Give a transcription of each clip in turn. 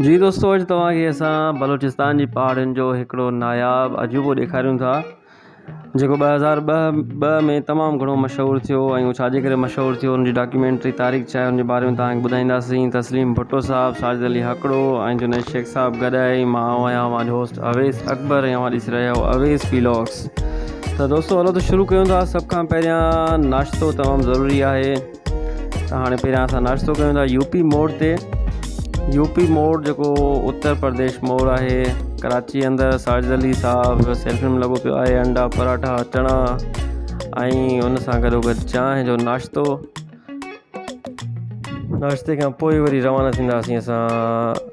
جي دوستو اڄ توهان کي اسان بلوچستان جي پهاڙين جو هڪڙو ناياب عجوبو ڏيکاريون ٿا جيڪو ٻه هزار ٻه ٻه ۾ تمام گهڻو مشهور ٿيو ۽ هو ڇاجي ڪري مشهور ٿيو ان جي ڊاڪيومينٽري تاريخ ڇا آهي ان جي باري ۾ توهان کي ٻڌائينداسين تسليم ڀٽو صاحب ساجد علي هڪڙو ۽ جنيد شيخ صاحب گڏ آهي ۽ مان آهيان اوهان جو هوسٽ اويس اڪبر ۽ اوهان ڏسي رهيا آهيو اويس ويلاگس ته دوستو هلو ته شروع ڪيون ٿا سڀ کان پهريان ناشتو تمام ضروري آهي ته هاڻي پهريان اسان ناشتو ڪيون ٿا يو پي موڙ تي يو پي موڙ جيڪو اتر پرديش موڙ آهي ڪراچي اندر ساجد علي صاحب سيلفي ۾ لڳو پيو آهي انڊا پراٺا چڻا ۽ ان سان گڏو گڏ چانهه جو ناشتو ناشتے کان پوء وري روانا ٿينداسين اسان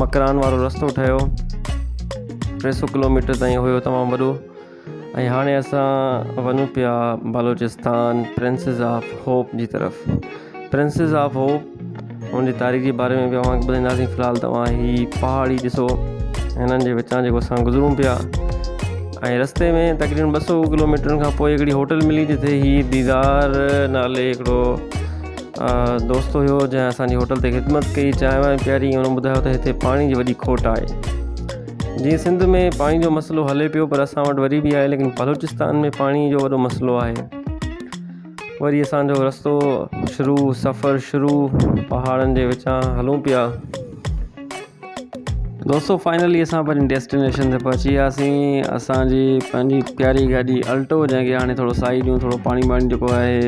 مڪران وارو رستو ٺهيو ٽي سو ڪلوميٽر تائين هيو تمام وڏو ۽ هاڻي اسان وڃون پيا بلوچستان پرنسز آف هوپ جي طرف پرنسز آف هوپ ان جي تاريخ جي باري ۾ به اوهان کي ٻڌائينداسين في الحال توهان هي پهاڙي ڏسو هنن جي وچان جيڪو اسان گذرون پيا ۽ رستي ۾ تقريبن ٻه سو ڪلوميٽرن کان پوء هڪڙي هوٽل ملي جتي هي ديدار نالي هڪڙو دوست هيو جنهن اسان جي هوٽل تي خدمت ڪئي چانهه وانهه پياري هن ٻڌايو ته هتي پاڻي جي وڏي کوٽ آهي جيئن سنڌ ۾ پاڻي جو مسئلو هلي پيو پر اسان وٽ وري به آهي ليڪن بلوچستان ۾ پاڻي جو وڏو مسئلو آهي وري اسان جو رستو شروع سفر شروع پهاڙن جي وچان هلون پيا دوستو فائنلي اسان پنهنجي ڊيسٽينيشن تي پهچي وياسين اسان جي پنهنجي پياري گاڏي الٽو جنهن کي هاڻي ٿورو سائي ڏيون ٿورو پاڻي ٻاڻي جيڪو آهي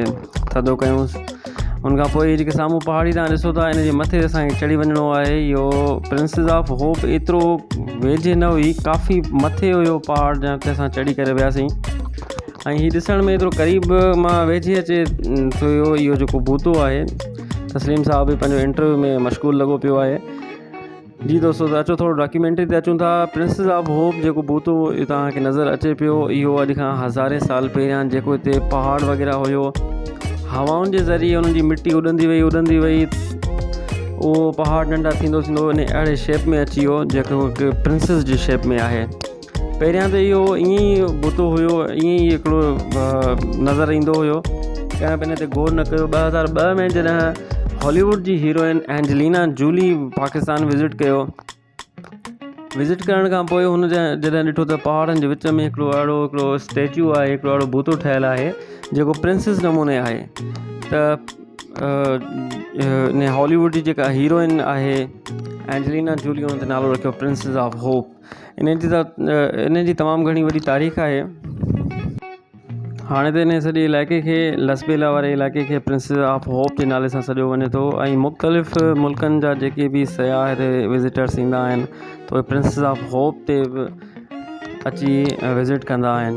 ٿڌو ڪيونس ان کان پوء جيڪي سامهون پهاڙي تان ڏسو ٿا ان جي مٿي اسانکي چڙهي وڃڻو آهي اهو پرنسز آف هوپ ايترو ويجهي نه هئي ڪافي مٿي هيو پهاڙ جنهن تي اسان چڙهي ڪري وياسين ۽ هي ڏسڻ ۾ ايترو قريب مان ويجهي اچي ٿو اهو جيڪو بوتو آهي تسليم صاحب پنهنجو انٽرويو ۾ مشغول لڳو پيو آهي جي دوستو ته اچو ٿورو ڊاڪيومينٽري تي اچون ٿا پرنسز آف هوپ جيڪو بوتو توهان کي نظر اچي پيو اهو اڄ کان هزارين سال پهريان جيڪو هتي پهاڙ وغيره هيو هوائن جي ذريعي انهن جي مٽي اڏندي وئي اڏندي وئي اهو پهاڙ ننڍا ٿيندو ٿيندو ان اهڙي شيپ ۾ اچي ويو جيڪو پرنسز جي شيپ ۾ آهي پهريان ته اهو ائين ئي بتو هيو ائين ئي هڪڙو نظر ايندو هيو ڪنهن به ان تي غور نه ڪيو ٻه هزار ٻه ۾ جڏهن هاليووڊ جي heroine Angelina Jolie Pakistan visit ڪيو وزٽ ڪرڻ کان پوء هن جڏهن ڏٺو ته پهاڙن جي وچ ۾ هڪڙو اهڙو هڪڙو اسٽيچو آهي هڪڙو اهڙو بتو ٺهيل آهي جيڪو پرنسز نموني آهي ته ان هاليووڊ جي جيڪا هيروئن آهي اينجلينا جولي هن تي نالو رکيو پرنسز آف هوپ انهن جي انهن جي تمام گهڻي وڏي تاريخ آهي هاڻي ته انهن سڄي علائقي کي لسٻيلا واري علائقي کي پرنسز آف هوپ جي نالي سان سڏيو وڃي ٿو ۽ مختلف ملڪن جا جيڪي بي سياح هتي وزٽرس ايندا آهن ته اهي پرنسز آف هوپ تي به اچي وزٽ ڪندا آهن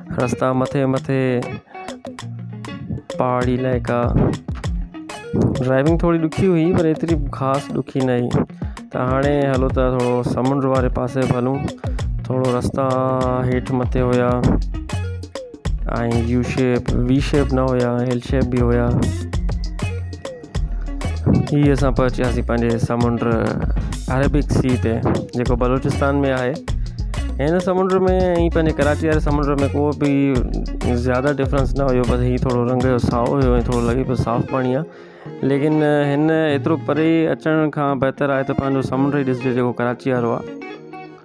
رستا مٿي مٿي پهاڙي علائقا ڊرائيونگ ٿوري ڏکي هئي پر ايتري خاص ڏکي نه هئي ته هاڻي هلو ته ٿورو سمنڊ واري پاسي به هلون ٿورو رستا هيٺ مٿي هيا ۽ يو شيپ وي شيپ نه هيا ايل شيپ به هيا ھي اسان پهچياسين پنهنجي سمنڊ عربڪ سي تي جيڪو بلوچستان ۾ آھي ھن سمنڊ ۾ ۽ پنهنجي ڪراچي واري سمنڊ ۾ ڪو به زياده ڊفرنس نه ھيو بس ھي ٿورو رنگ جو سائو ھيو ۽ ٿورو لڳي پيو صاف پاڻي آھي ليڪن ھن ايترو پري اچڻ کان بهتر آھي ته پنهنجو سمنڊ ئي ڏسجي جيڪو ڪراچي وارو آھي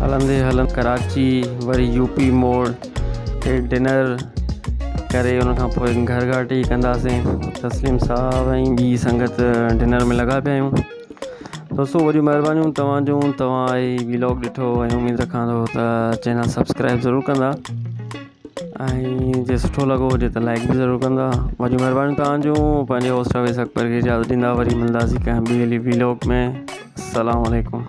هلندي هلندي ڪراچي وري يو پي موڙ تي ڊنر ڪري ان کان پوء گهر گهاٽي ڪنداسين تسليم صاحب ۽ ٻي سنگت ڊنر ۾ لڳا پيا آهيون دوستو وڏيون مهربانيون توهان جون توهان هي ويلاگ ڏٺو ۽ اميد رکان ٿو ته چينل سبسڪرائب ضرور ڪندا ۽ جي سٺو لڳو هجي ته لائڪ به ضرور ڪندا وڏيون مھربانيون تھان جون پنھنجي ھوسٽ اويس اڪبر کي اجازت ڏيندا وري ملنداسين ڪنھن ٻي ولي ويلوگ ۾ السلام عليڪم